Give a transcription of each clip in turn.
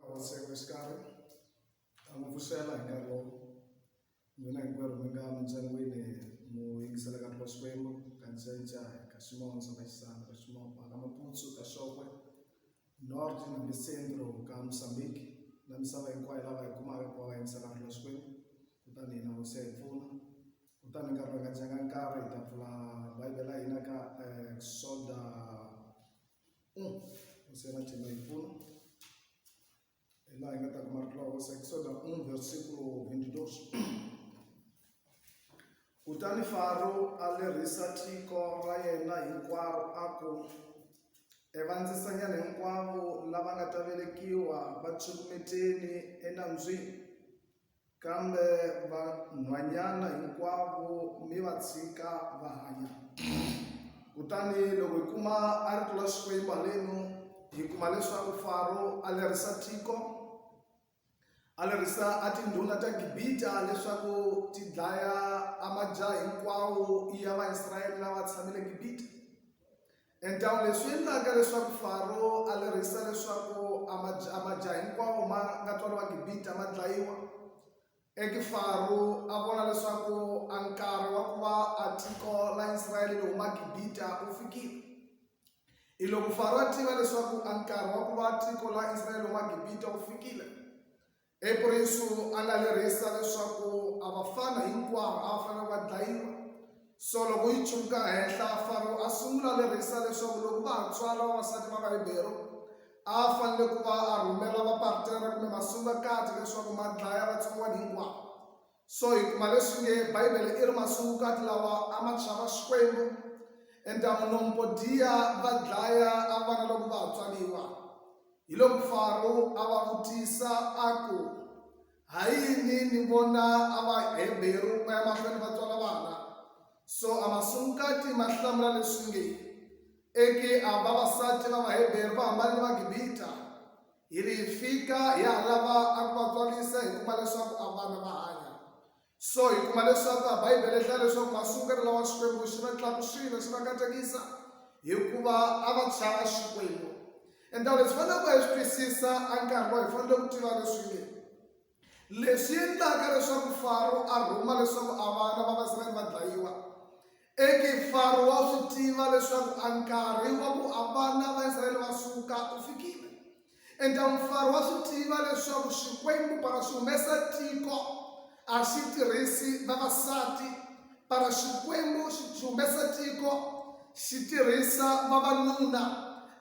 Vatseko exikarhi ta n'wi pfuxela hi nkarhi lowu n'wina hinkwerhu mi nga mindyangwini mu yingisela ka twa xikwembu ka ncenca ka ximono xa maxisana ka ximopa ka maputsu ka xokwe north na le centro ka mosambiki na misava hinkwayo lava hi kumaka ku va va yingisela twa xikwembu kutani hina hosi ya hi pfuna kutani nkarhi va nga dyanga nkarhi hi ta pfula bayibele ya hina ka exoda kusiyana chela hi pfuna hi laha hi nga ta kuma rito hosi ekisoda un versikulo 22 kutani faro a lerisa tiko ra yena hinkwaro a ku evandzisanyana hinkwavo lava nga ta velekiwa va tshukumeteni enambyini Kambe vanhwanyana hinkwavo mi va tshika va hanya. Kutani loko hi kuma a ri tlula Xikwembu haleno, hi kuma leswaku Faro a lerisa tiko, a lerisa a tindhuna ta Gibita leswaku ti dlaya a majaha hinkwawo ya Vaisrayele lava tshamile Gibita. Endhawu leswi endlaka leswaku Faro a lerhisa leswaku a majaha hinkwawo ma nga twala va Gibita ma dlayiwa, i ku Faro a vona leswaku a nkarhi wa ku va a tiko la Israyele ri huma Gibita wu fikile. Hiloko Faro a tiva leswaku a nkarhi wa ku va tiko la Israyele ri huma Gibita wu fikile, Epurinsu a nga lerhisa leswaku a vafana hinkwavo a va fanele va dlayiwa. So loko yi tshwuka henhla, Faro a sungula lerhisa leswaku loko va ha tswala vavasati va Vaheberu, a a fanele ku va a rhumela vapartera kumbe masungakati leswaku ma dlaya vatsongwana hinkwavo. So hi kuma leswi nge, Bibele i ri, Masungukati lawa a ma chava Xikwembu, entamu lomu ko dyiya va dlaya a vana loko va ha tswaliwa. Hiloko Faro a va vutisa a ku, Ha yini ni vona a Vaheberu va ya mahlweni va tswala vana? So a masungukati ma hlamula leswi nge, Egiha, vavasati va Vaheberu va hambane ni Vagibita. Hi ri hi fika hi ha lava a ku va tswarisa hi kuma leswaku a vana va hanya. So hi kuma leswaku a Bibele hlaya leswaku masungelo lawa Xikwembu xi va tlakusile xi va katekisa hikuva a va chava Xikwembu. And leswi faneleke hi swi twisisa a nkarhi lowu hi fanele ku tiva leswi nge. Leswi endlaka leswaku Faro a rhuma leswaku a vana va Vaisraele va dlayiwa i ki Faro wa swi tiva leswaku a nkarhi wa ku a vana va Israele va suka u fikile. Entamu Faro wa swi tiva leswaku Xikwembu para xi humesa tiko a xi tirhisi vavasati Para Xikwembu xi byi humesa tiko, xi tirhisa vavanuna.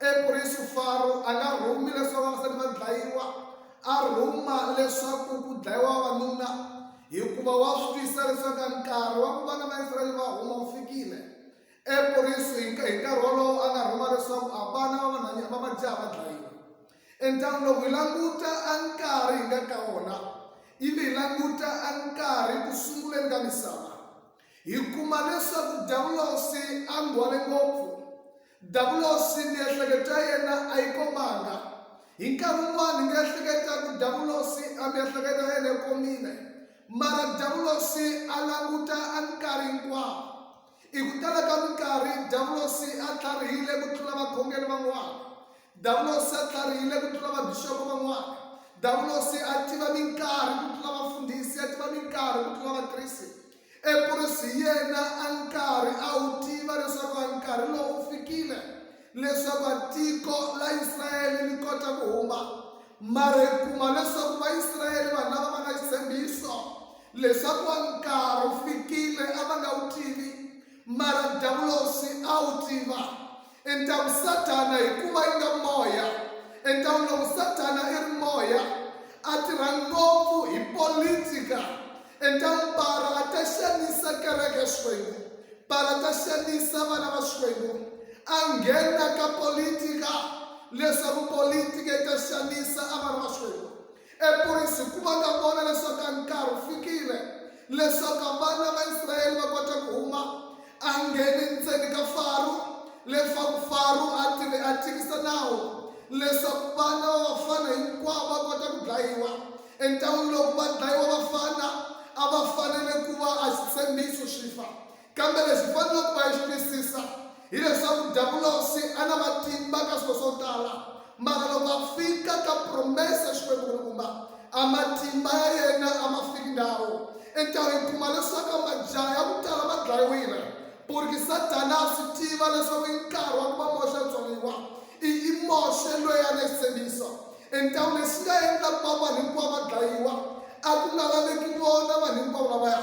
Eprisu Faro a nga rhumi leswaku vavasati va dlayiwa, a rhuma leswaku ku dlayiwa vavanuna, hikuva wa swi twisisa leswaku nkarhi wa ku vana va Israyele va huma wu fikile. Eprisu hi nkarhi wolowo a nga rhuma leswaku a vana va vanhwanyana va majaha va dlayiwa. Endhawini loko hi languta a nkarhi hi nga ka wona ivi hi languta a nkarhi ku sunguleni ka misava hi kuma leswaku davulosi a nghwale ngopfu davulosi miehleketo ya yena a yi komanga hi nkarhi wun'wana hi nga ehleketa ku davulosi a miehleketo ya yena yi komile mara davulosi a languta a nkarhi hinkwawo Hi ku tala ka minkarhi, Davulosi a tlharihile ku tlula vakhongeri van'wana. Davulosi a tlharihile ku tlula vabixopo van'wana. Davulosi a tiva minkarhi ku tlula vafundhisi, a tiva minkarhi ku tlula vakrisi. Epurisi yena a nkarhi a wu tiva leswaku a nkarhi lowu wu fikile leswaku a tiko la Israyele li kota ku huma Mara hi kuma leswaku Vaisrayele, vanhu lava va na xitshembiso leswaku wa nkarhi wu fikile, a va nga wu tivi, mara Diyavulosi a wu tiva. Entaku Sathana, hikuva yi nga moya, entaku loko Sathana i ri moya, a tirha ngopfu hi politika, Entang para a ta xanisa kereke ya Xikwembu, para a ta xanisa vana va Xikwembu, a nghena ka politika leswaku politika yi ta xanisa a vana va Xikwembu. Epurisi ku va ka vona leswaku a nkarhi wu fikile leswaku vana va Israyele va kota ku huma a ngheni ndzeni ka Faro, leswaku Faro a tlhele a tikisa nawu leswaku vana va vafana hinkwavo va kota ku dlayiwa. Entawini lowu va dlayiwa vafana a va fanele ku va a xitshembiso xi fa. Kambe lexi faneleke ku va yi xi twisisa hileswaku Dabulosi a na matimba ka swilo swo tala, Mara loko a fika ka promesa Xikwembu ku ri kuma, a matimba ya yena a ma fiki ndhawu. Enkarhi hi kuma leswaku majaha ya ku tala ma dlayiwile, purki Sathana a swi tiva leswaku i nkarhi wa ku va Moxe a tswaliwa. I i Moxe loyi a na xitshembiso. Entau lexi nga endla ku va vanhu hinkwavo va dlayiwa, a ku nga laveki vona vanhu hinkwavo lavaya.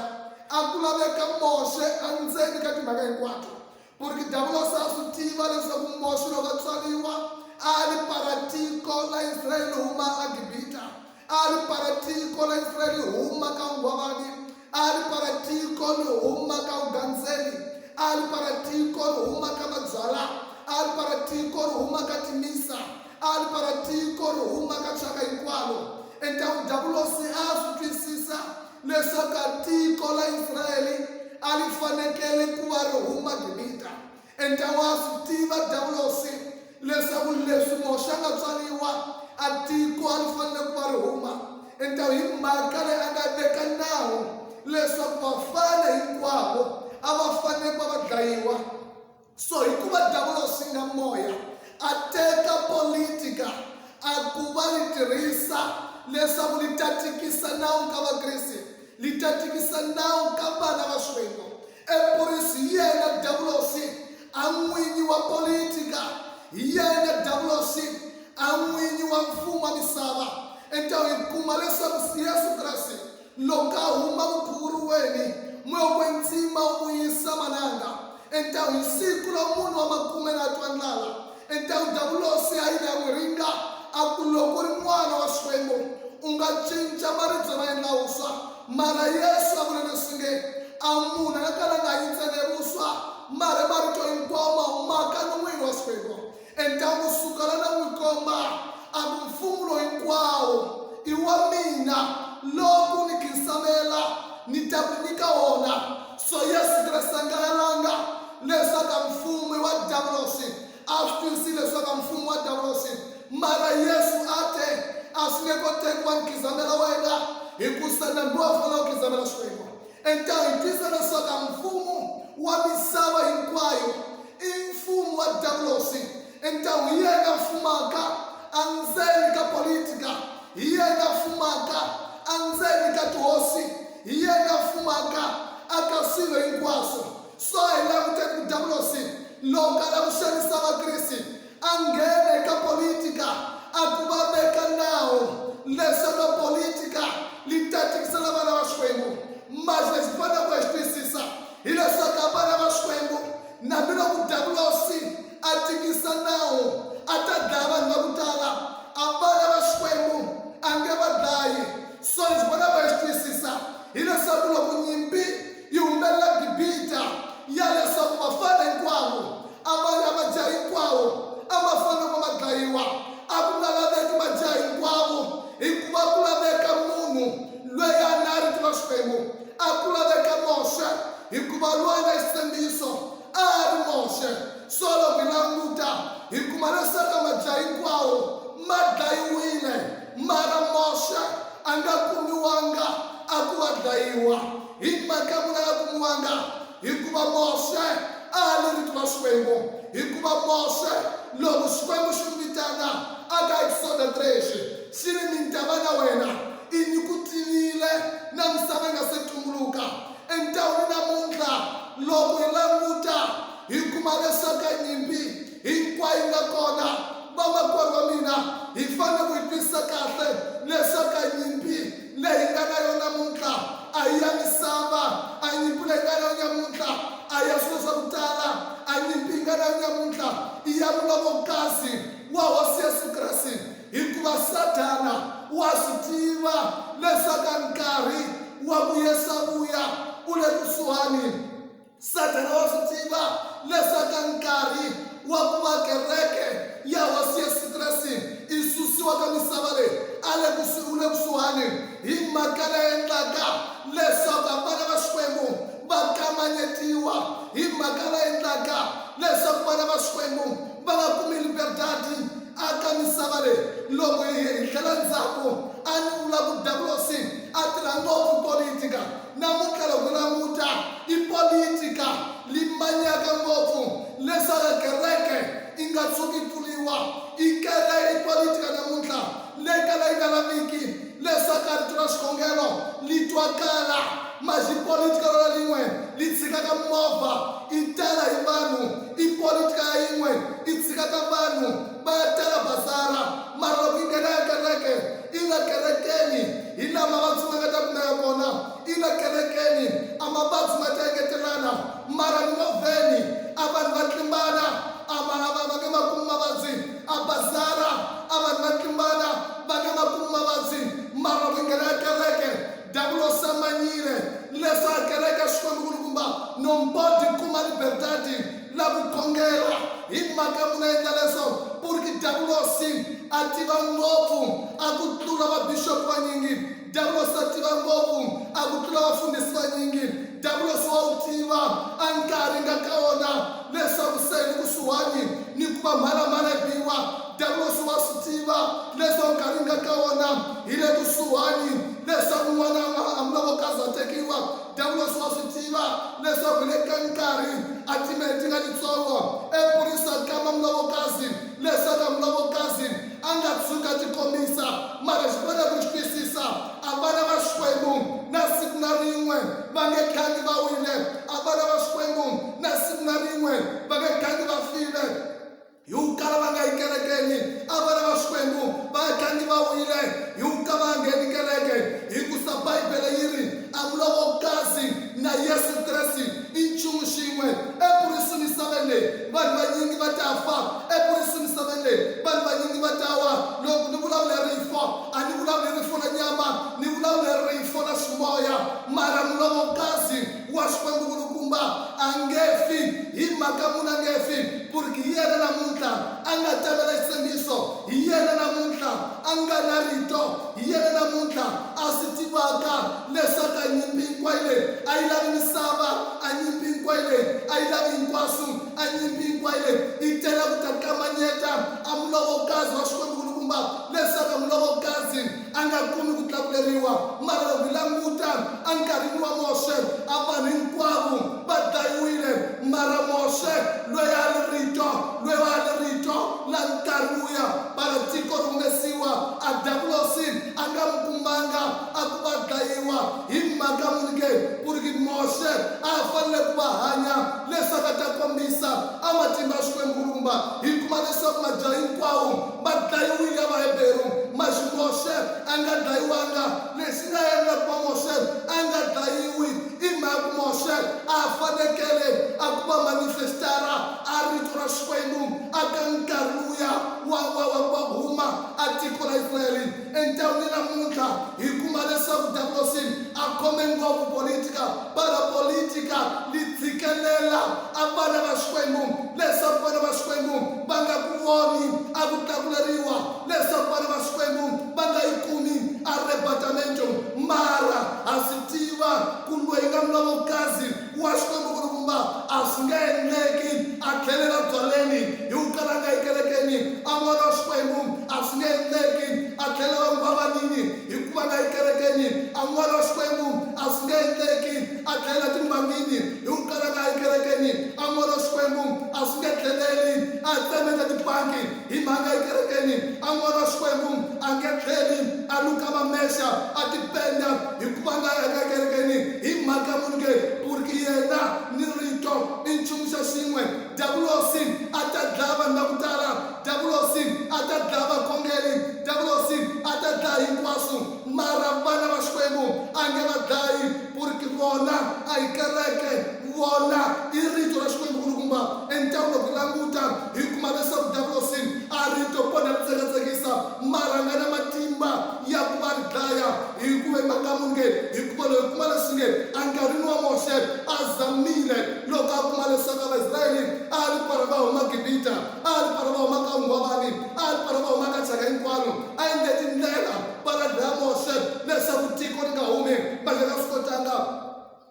A ku laveka Moxe endzeni ka timhaka hinkwato. Purki Diavulosi a swi tiva leswaku Moxe loko a tswariwa a a ri para tiko la Israyeli huma aGibita, a a ri para tiko la Israyeli huma ka unghwavani, a a ri para tiko li huma ka ugandzeri, a a ri para tiko li huma ka mabyala, a a ri para tiko ri huma ka timisa, a a ri para tiko ri huma ka thyaka hinkwalo. Entaku Diavulosi a a swi twisisa leswaku tiko la Israyele a li fanekele ku va ri huma Gibita. Enta wa swi tiva Dawulosi leswaku leswi Moxe a nga tswariwa, a tiko a li fanele ku va ri huma. Enta hi mhaka leyi a nga veka nawu leswaku vafana hinkwavo a va fanele ku va va dlayiwa. so hikuva diavolosi nga moya a teka politika a ku va li tirhisa leswaku li ta tikisa nawu ka vakriste li ta tikisa nawu ka vana va xikwembu epurisi hi yena diavolosi a n'winyi wa politika hi yena diavolosi a n'winyi wa mfumo wa misava enta hi kuma leswaku yesu kreste Lokahuma mukuru weni moya we ndzima u yisa malanga, enta hi siku lo munhu wa makume la twa ndlala, enta u davulosi a yile a n'wi ringa, a ku, Loko u ri N'wana wa Xikwembu, u nga cinca maribye ma endla wuswa. Mara Yesu a vula leswi nge, A munhu a nga kalanga hi ntsena hi wuswa, mara hi marito hinkwawo ma humaka non'wini wa Xikwembu. Entanghu suka la na n'wi komba, a ku, Mfumu lowu hinkwawo i wa mina, lowu ni khinsavela ni ta ku nyika wona. So Yesu Kreste a nga lalanga leswaku a mfumu i wa Davuloxi, a swi tivisile leswaku a mfumu i wa Davuloxi. Mara Yesu a te, A swi nge koteki wa ni khinsavela wena, hikusa nambi wa fanela ku khinsavela Xikwembu. Entanghu yi twisisa leswaku a mfumu wa misava hinkwayo. I mfumo wa diavolosi. I ntawu hi yena a fumaka andzeni ka politika, hi yena a fumaka andzeni ka tihosi, hi yena a fumaka aka swilo hinkwaswo. So a hi languteni ku diavolosi loko a lava ku xanisa Vakriste a nghena eka politika a ku va veka nawu leswaku politika li ta tikisela vana va Xikwembu. Manje lexi hi faneleke hi xi twisisa Hileswaku a va lava Xikwembu, nambiloko Diyavulosi a tikisa nawu, a ta dlaya vanhu va ku tala. A va lava Xikwembu, a nge va dlayi. So lexi va lava hi xi twisisa hileswaku loko nyimpi yi humelela Gibita, ya leswaku vafana hinkwavo a va ya majaha hinkwawo a ma fanele ku va ma dlayiwa. A ku nga laveki majaha hinkwavo hikuva a ku laveka munhu loyi a na rito ra Xikwembu. a ku laveka Moxe, hikuva loyi a nga xisembiso a a ri Moxe. Solo mi languta, hi kuma lesaka madya hinkwawo ma dlayiwile, mara Moxe a nga kumiwanga a ku wa dlayiwa. Hi mhaka muni a nga kumiwanga? Hikuva Mose a a lo vitana Xikwembu, hikuva Mose, loko Xikwembu xi n'wi vitana, a ka Eksoda 3 xi, xi ri, Ni ta va na wena, i ni ku tivile na misava yi nga se tumbuluka. Entawini namuntlha, loko hi languta, hi kuma leswaku ka nyimpi, hinkwayo yi nga kona. Vamakwerhu wa mina, hi fanele ku yi twisisa kahle leswaku a nyimpi leyi hi nga na yona namuntlha a hi ya misava, a nyimpi leyi hi nga na yona namuntlha a hi ya swilo swa ku tala, a nyimpi hi nga na yona namuntlha i ya mulomokasi wa Hosi Yesu Kreste, hikuva Sathana wa swi tiva leswaku a nkarhi wa ku Yesu a vuya u le kusuhani. Sathana wa swi tiva leswaku nkarhi wa ku va kereke ya Hosi Yesu Kreste yi susiwa ka misava leyi a le kusuhi wu le kusuhani, hi mhaka leyi endlaka leswaku vana va Xikwembu va kamanyetiwa, hi mhaka leyi endlaka leswaku vana va Xikwembu va nga kumi liberdadi aka misava leyi. Loko hi hi tlhela ndzhaku, a ni vula ku Davulosi a tirha ngopfu politika. Namuntlha loko u languta, i politika leyi manyaka ngopfu leswaku kereke yi nga tshuki yi pfuriwa. I kere, i politika namuntlha leyi kala yi nga laviki leswaku rito ra xikhongelo li twakala. Mas i politika rona lin'we li tshikaka mimovha yi tala hi vanhu. I politika ya yin'we yi tshikaka vanhu va ya tala bazara, mara loko yi nghena ekereke, Ina kerekeni, hi laha mavabyi ma nga ta kumeka kona. Ina kerekeni, a mavabyi ma ta engetelana. Mara mimovheni, a vanhu va tlimbana, a va, a va, va nge ma kumi mavabyi. A bazara, a vanhu va tlimbana, va nge ma kumi mavabyi. Mara loko hi nghena ekereke, Davula u samanyile ni leswi a kereke Xikwembu-nkulukumba Nombodi Kuma Libertadi la ku khongela. Hi mhaka muni a endla leswo? Puriki Davulosi a tiva ngopfu a ku tlula vabixopi vanyingi. Davulosi a tiva ngopfu a ku tlula vafundhisi vanyingi. Davulosi wa wu tiva a nkarhi nga ka wona leswaku se hi le kusuhani ni ku va mhalamhala hi biwa. Diyavulosi wa swi tiva leswaku nkarhi hi nga ka wona hi le kusuhani leswaku n'wana a nga hambula loko a za tekiwa. Diyavulosi wa swi tiva leswaku hi le ka nkarhi a timinete ti nga titsongo eburisaka a kamba mulovokazi leswaku a mulovokazi a nga tshuki a tikombisa. Mara xi fanele ku xi twisisa, a vana va Xikwembu na siku na rin'we va nge gangi va wile, a vana va Xikwembu na siku na rin'we va nge gangi va file. Hi ku kala va nga yi kerekeni, a vana va Xikwembu va gangi va wile hi ku ka va ngheni kereke. Hikusa Bibele yi ri, A mu lo vokazi na Yesu Kreste i nchumu xin'we. Eku ri su misaveni leyi, vanhu vanyingi va ta fa. Eku ri su misaveni leyi, vanhu vanyingi va ta wa. Loko ni vulavula hi rifo, a ni vulavuli rifo la nyama, ni vulavula hi rifo la ximoya. Mara mu lo vokazi wa Xikwembu-Nkulukumba a nge fi. Hi mhaka muni a nge fi? Purki hi yena namuntlha a nga tamela xitshembiso, hi yena namuntlha a nga na Rito, hi yena namuntlha a swi tivaka leswaku a nyimpi hinkwayo leyi a yi lavi misava, a nyimpi hinkwayo leyi a yi lavi hinkwaswu, a nyimpi hinkwayo leyi yi tela ku ta kamanyeta a Mulovokazi wa Xikwembu-Nkulukumba leswaku a Mulovokazi a nga kumi ku tlakuleriwa, mara loko hi languta enkarhini wa Moxe, a vanhu hinkwavo va dlayiwile, mara Moxe, loyi a ri Rito, loyi a ri Rito, la nkarhi luya mara tiko ri humesiwa, a Davulosi a nga mu kumanga a ku va dlayiwa. Hi mhaka muni ke? Ku ri ki Moxe a a fanele ku va hanya leswaku a ta kombisa a matimba ya Xikwembu Mulumba. Hi kuma leswaku majaha hinkwawo va dlayiwile ya Vaheberu, mas Moxe a nga dlayiwanga. Lexi nga endla ku va Moxe a nga dlayiwi i mhaka ku Moxe a a fanekele a ku va manifestara a rito ra Xikwembu a ka nkarhi luya wa wa wa ku va huma a tiko ra Israyele. Entangwini namuntlha hi kuma leswaku Davulosi a khome ngopfu politika, para politica li tshikelela a vana va Xikwembu leswaku vana va Xikwembu va nga ku voni a ku tlakuleriwa leswaku vana va Xikwembu va nga yi kumi arrebatamento. Mara ha swi tiva ku lweyi nga mlovokazi Wa Xikwembu kulukumba a swi nge endleki a tlhelela byaleni hi ku kala a nga yi kerekeni, a N'wana wa Xikwembu a swi nge endleki a tlhelela muhavaninyi hi ku va nga yi kerekeni, a N'wana wa Xikwembu a swi nge endleki a tlhelela timbangini hi ku kala a nga yi kerekeni, a N'wana wa Xikwembu a swi nge tlheleli a ya tsemeta tibangi hi mhaka a nga yi kerekeni, a N'wana wa Xikwembu a nge tlheli a luka mamexa a tipenda, hikuva nga yanga ekerekeni hi mhaka ya munhu ke ku ri ki yena ni rito i nchumu xa xin'we diyavulosi a ta dlaya vanhu va ku tala diyavulosi a ta dlaya vakhongeri diyavulosi a ta dlaya hinkwaswo mara vana va xikwembu a nge va dlayi ku ri ki vona a hi kereke vona i rito ra xikwembu ku ri kumba entangwa loko hi languta hi kuma leswaku diyavulosi a rito ponda ri tsekatseki mara a nga na matimba ya ku va ri dlaya Hi ku ve makamungeni, hikuva loyi kuma leswingeni enkarhini wa Moxe a zamile loko a kuma leswaku a Vaisraeli a ri para va huma Gibita, a ri para va huma ka unghwavani, a ri para va huma ka thyaka hinkwaro, a endle tindlela para dlaya Moxe leswaku tiko ri nga humi, manje a nga swi kotanga.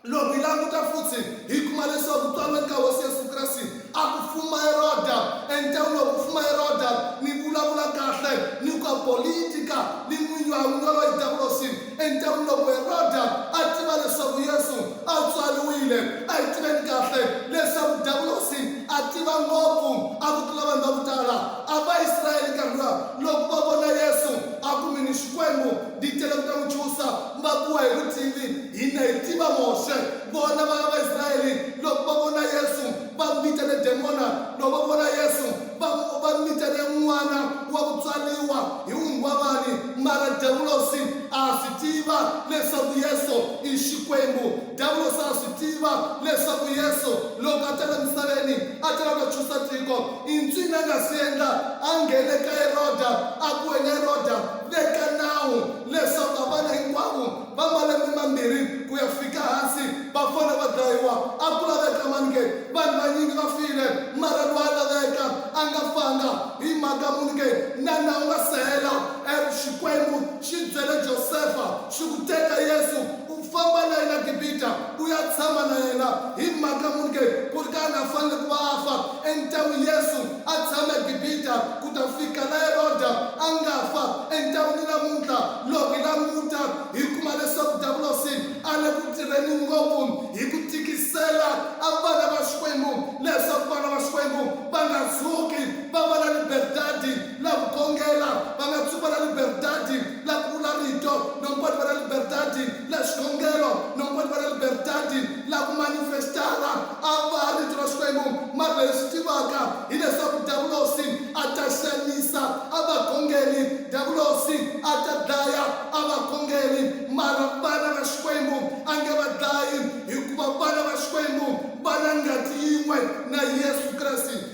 Loko hi languta futsi, hi kuma leswaku tswalweni ka Hosi Yesu Kreste a ku fuma Heroda. Endzhaku loko ku fuma Heroda, ni vulavula kahle ni ka politika ni n'winyi wa n'winyi yoloye Davulosi. Endzhaku loko Heroda a tiva leswaku Yesu a tswaliwile, a hi tiveni kahle leswaku Davulosi a tiva ngopfu a ku tlula vanhu va ku tala. A Vaisraele nkarhi luwa loko va vona Yesu a ku, Mi ni Xikwembu, ndi tele ku ta n'wi chusa, va kuwa hi vutivi. Hina hi tiva Moxe. Vona vana va Israyele loko va vona Yesu, va mitene demona. Loko va vona Yesu, va, va mitene n'wana wa ku tswariwa hi wunghwavani. Mara Devlosi a a swi tiva leswaku Yesu i Xikwembu. Devlosi a a swi tiva leswaku Yesu loko a ta la misaveni, a ta la ku ta chusa tiko. I ncini a nga swi endla? A nghene ka Heroda, a ku, Wena Heroda, veka nawu leswaku a vana hinkwavo, va malembe mambirhi ku ya fika hansi va fona va dlayiwa. A ku laveka mani ke? Vanhu vanyingi va file, mara loyi a laveka a nga fanga. Hi mhaka muni ke na nawu nga si hela? E, Xikwembu xi byele Josefa xi ku, Teka Yesu u famba na yena Gibita u ya tshama na yena. Hi mhaka muni ke ku ri ka a nga fanele ku va a fa? E, ni ta ku Yesu A tshama eGibita ku ta fika laha Heroda a nga fa. Entan'wini ni namuntlha, loko hi languta, hi kuma leswaku Davulosi a le ku tirheni ngopfu hi ku tikisela vana va Xikwembu leswaku vana va Xikwembu va nga tshuki va va na liberdadi la ku gongela, va nga tshuki va na liberdadi la ku vula rito, no mponi va na liberdadi la xikhongelo, no kwet va la liberdade la ku manifestara a va Rito ra Xikwembu. Mara leyi swi tivaka hi leswaku Davulosi a ta xanisa a vakhongeri, Davulosi a ta dlaya a vakhongeri, mara vana va Xikwembu a nge va dlayi, hikuva vana va Xikwembu va la ngati yin'we na Yesu Kreste.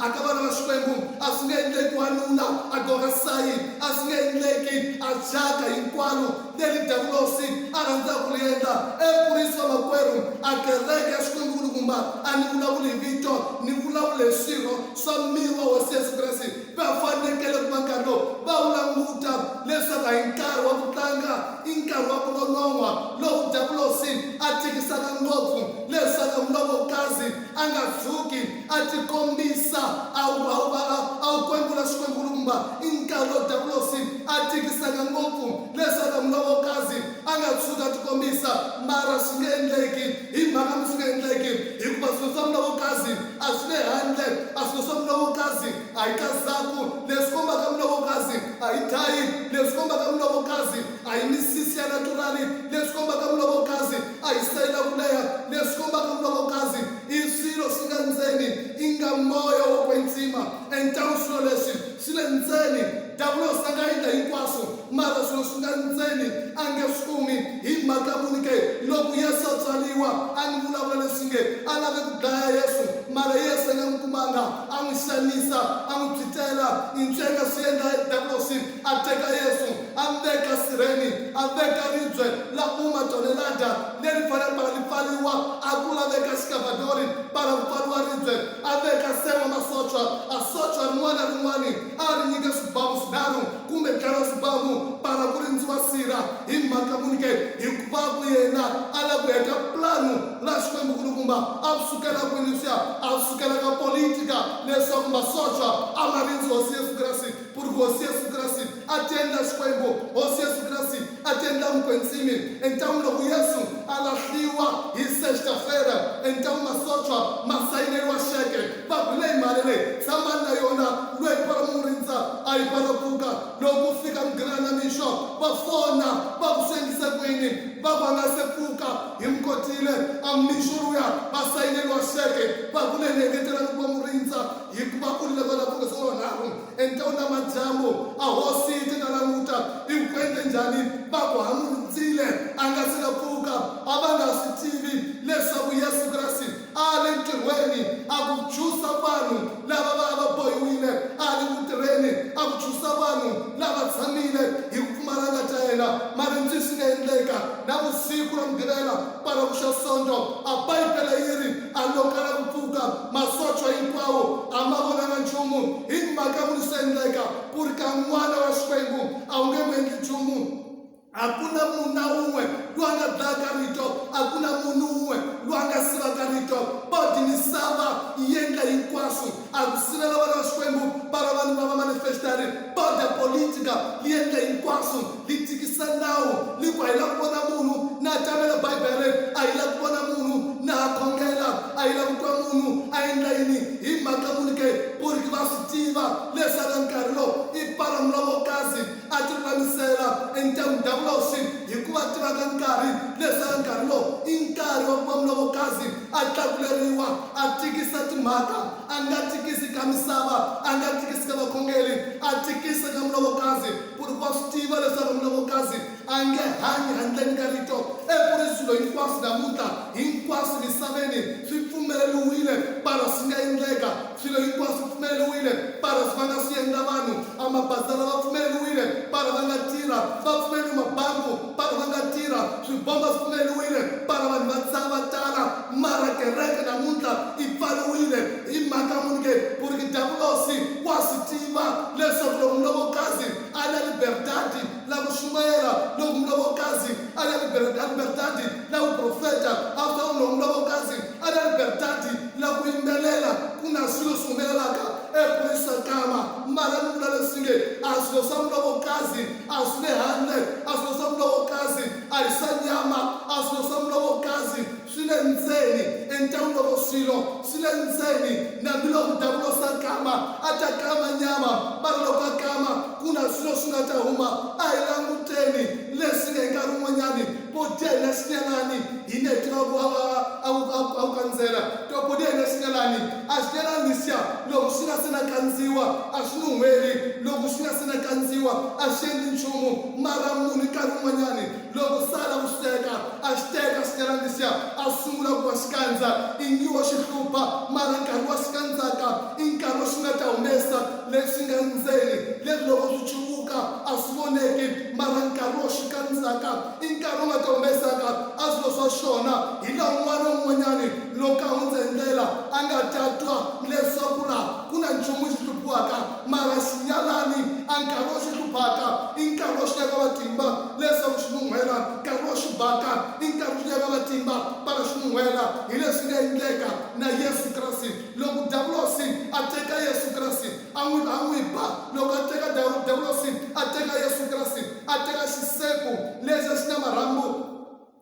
A ka vana va Xikwembu a swi nge endleki wanuna a gorha sayi, a swi nge endleki a thyaka hinkwaro leri Davulosi a rhandzaka ku ri endla. E mfurisi wa makwerhu, a kereke ya Xikwembu-Nkulukumba, a ni vulavuli hi vito, ni vulavula hi swirho swa miri wa Hosi Yesu Kreste, va fanekele ku va nkarhi lowu va wu languta leswaku a hi nkarhi wa ku tlanga, i nkarhi wa ku nonon'hwa lowu Davulosi a tikisaka ngopfu leswaku a mulovokazi a nga tshuki A tikombisa a wu a wu va a a wu kwembula swikwembulumba. I nkarhi lowu Diyavulosi a tikisaka ngopfu leswaku a Mulovokazi a nga tshuki a tikombisa. Mara swi nge endleki. Hi mhaka yini swi nga endleki? Hikuva swilo swa Mulovokazi a swi le handle. A swilo swa Mulovokazi a hi kazaku. Leswi kombaka Mulovokazi a hi thayi. Leswi kombaka Mulovokazi a hi misisi ya naturali. Leswi kombaka Mulovokazi. a hi sitayila ku leha leswi kombaka nkokokazi i swilo swi nga ndzeni, inga moya wo kwetsima entau swilo leswi swi le ndzeni. Davulosi a nga endla hinkwaswo, mara swilo swi nga ndzeni a nge swi kumi. Hi mhaka muni ke? Loko Yesu a tswariwa, a ni vulavula leswi nge a lave ku dlaya Yesu, mara Yesu a nga n'wi kumanga, a n'wi xanisa, a n'wi phyitela. I ncwenga swi endla Davulosi. a teka Yesu a mi veka sirheni, a veka ribye la kuma tonelada leri fanele para li pfaliwa, a ku la veka xikavadori para ku pfaliwa ribye, a veka se wa masocha, a socha rin'wana na rin'wani a ri nyika swibamu swinharhu kumbe ntlhanu wa swibamu para ku rindziwa sirha. Hi mhaka muni ke? Hikuva ku yena a la ku heta planu la Xikwembu-Kulukumba. A swi sukela kwini leswiya? A swi sukela ka politika leswaku masocha a ma rindzi Hosi Yesu Kreste. Pur Hosi Yesu Kreste a ti endla Xikwembu, Hosi Yesu Kreste a ti endla Mukwentsimi. Entamu loko Yesu a lahliwa hi sexta fera, entamu masochwa ma sayineriwa xeke, va ku, Leyi mali leyi, tshamani na yona, lweyi para mu n'wi rindza, a yi para pfuka. Loko ku fika mugina ya namixo, va fona, va ku, Swi endlise ku yini? Va ku, A nga se pfuka, hi mu kotile. A mixo luya, va sayineriwa xeke, va ku, Leyi ni engetelani ku va mu rindza. Hikuva ku ri leswo na ku ri swolonharhu, entewu namadyambu, a hosi yi te, Na languta, i wu endle njhani? Va ku, Ha n'wi rindzile a nga si na pfuka. A va nga swi tivi leswaku Yesu Kreste a a le ntirhweni a ku dzusa vanhu lava va va bohiwile, a a le ku tirheni a ku dzusa vanhu lava tshamile hi ku pfumala nga ta yena. Mara njhe swi nga endleka na vusiku ra Mugqivela kwalaho ku xa Sonto, a Bibele yi ri, a lo kala ku pfuka. Masocha hinkwawo a ma vonanga nchumu, hi mhaka ku ri swi endleka ku ri ka n'wana wa Xikwembu a wu nge n'wi endli nchumu. A ku na munhu na un'we loyi a nga dlayaka Rito, a ku na munhu un'we loyi a nga sivaka Rito. But misava yi endla hinkwaswo a ku sivela vana va Xikwembu va va vanuna va manifestari border politica li endla hinkwaswo li tikisa nawu li ku a yi la ku vona munhu na tamela Bibele a yi la ku vona munhu na ha khongela a yi la ku twa munhu a endla yini hi mhaka muni ke puriki va swi tiva lesaka nkarhi lo i palamula wo kasi a ti lulamisela and ta mundavuloswi hikuva tivaka nkarhi lesaka nkarhi lo i nkarhi wa ku va mula wo kasi a tlakuleriwa A tikisa timhaka, a nga tikisi ka misava, a nga tikisi ka vakhongeri, a tikisa ka mulovokazi, ku ri wa swi tiva leswaku mulovokazi a nge hanyi handleni ka Rito. Eku ri swilo hinkwaswo namuntlha, hinkwaswo misaveni swi pfumeleriwile, para swi nga endleka. Swilo hinkwaswo swi pfumeleriwile, para va nga swi endla vanhu. A mabazala va pfumeleriwile, para va nga tirha. Va pfumeleriwe mabanku. Bara va nga tirha, swibomba swi pfuleriwile, bara vanhu va dzaha va tala, mara kereke namuntlha yi pfariwile. Hi mhaka muni ke? Ku ri ki Davulosi wa swi tiva leswaku loko mulovokazi a ri na liberdadi la ku xumayela, loko mulovokazi a ri na liberdadi la ku profeta, after all loko mulovokazi a ri na liberdadi la ku yimbelela, ku na swilo swi humelelaka ePorisakama. Mara ni vula leswi nge, a swilo swa mulovokazi, A si le handle, a swilo swa mulovo kasi a hi swa nyama, a swilo swa mulovo kasi swi le ndzeni. Entan'wini loko swilo swi le ndzeni, nambiloko Davulosi a kama, a ta kama nyama, mara loko a kama, ku na swilo swi nga ta huma. A hi languteni leswi nge hi nkarhi wun'wanyani body ya hina swi nga lani, hi nge hi tiva ku a ku kandzela, to body ya hina swi nga lani. a swi yela Lucia loko swi nga se na kandziwa a swi nuhweli loko swi nga se na kandziwa a swi endli nchumu mara munhu nkarhi wun'wanyani loko sa la ku swi teka a xi teka swi yela Lucia a sungula ku va xikandza ingiwa xi hlupha mara nkarhi wa xikandzaka i nkarhi wa xi nga ta humesa lexi nga ndzeni lexi loko swi chukuka a swi voneki mara nkarhi wa xikandzaka I nkarhi u nga ta humesaka a swilo swa xona hi laha un'wana na un'wanyana loko a hundza hi ndlela a nga ta twa leswaku laha ku na nchumu xi hluphiwaka. Mara xi nyalani a nkarhi wo xi hluphaka i nkarhi wo xi nyika matimba leswaku xi nun'hwela. Nkarhi wo xi baka i nkarhi wo xi nyika matimba para xi nun'hwela. Hi leswi nga endleka na Yesu Kreste. Loko Davulosi a teka Yesu Kreste, A n'wi a n'wi ba loko a teka dawu, dawulosi a teka Yesu Kreste, a teka xisepu lexi a xi na marhambu,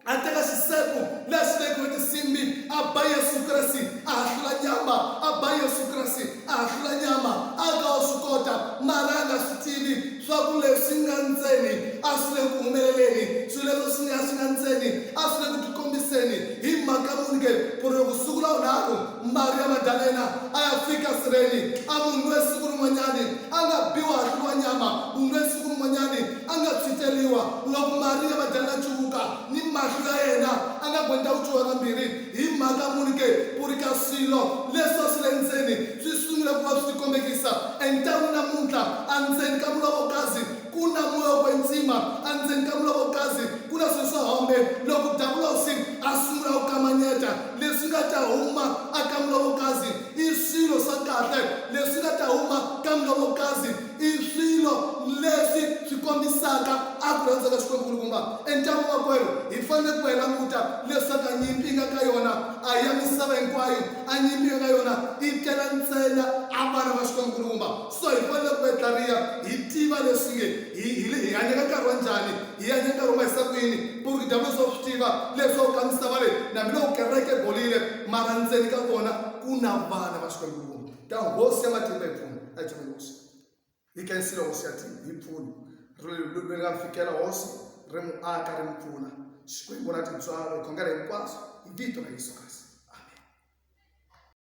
a teka xisepu lexi xi vekiwe tinsimbi, a ba Yesu Kreste, a hahlula nyama, a ba Yesu Kreste, a hahlula nyama. A nga wo swi kota, mara a nga swi tivi swa ku leswi nga ndzeni a swi le ku humeleleni, swilo leswo swi nga swi nga ndzeni a swi le ku tikombiseni. Hi mhaka muni ke? Ku ri loko siku ra vunharhu Maria Magdalena a ya fika sireni, a munhu loyi siku rin'wanyani a nga biwa a hluviwa nyama, munhu loyi siku rin'wanyani a nga tshwitseriwa. Loko Maria Magdalena a cuvuka ni mahlo ya yena, a nga gwenta ku cuvuka kambirhi. Hi mhaka muni ke? Ku ri ka swilo leswi a swi le ndzeni swi sungule ku va swi tikombekisa. Entangwini namuntlha, endzeni ka mulovokazi, Ku na moya wo ntsima andzeni ka muloko kasi ku na swilo swa hombe loko Davulosi a sungula ku kamanyeta. Leswi nga ta huma aka muloko kasi i swilo swa kahle. Leswi nga ta huma ka muloko kasi i swilo leswi swi kombisaka a ku rhandza ka Xikwembu-Nkulukumba. Entama-makwerhu, hi fanele ku va hi languta leswaku a nyimpi yi nga ka yona a hi ya misava hinkwayo. A nyimpi yi nga ka yona yi tela ntsena a vana va Xikwembu-Nkulukumba. So hi fanele ku etlariha hi tiva leswi nge hi hi le hi hanya ka nkarhi wa njhani, hi hanya nkarhi wa mahisa kwini, purki dyablosi wa swi tiva leswaku ka misava leyi nambi loko kereke bolile mara ndzeni ka vona ku na vana va Xikwembu kumbe ta hosi ya matimba hi pfuna a hi tshame hosi hi kensile hosi ya tivi hi pfuna ri ri nga fikela hosi ri mu aka ri mu pfuna Xikwembu na tintswalo hi khongela hinkwaswo hi vito ra Yesu Kreste.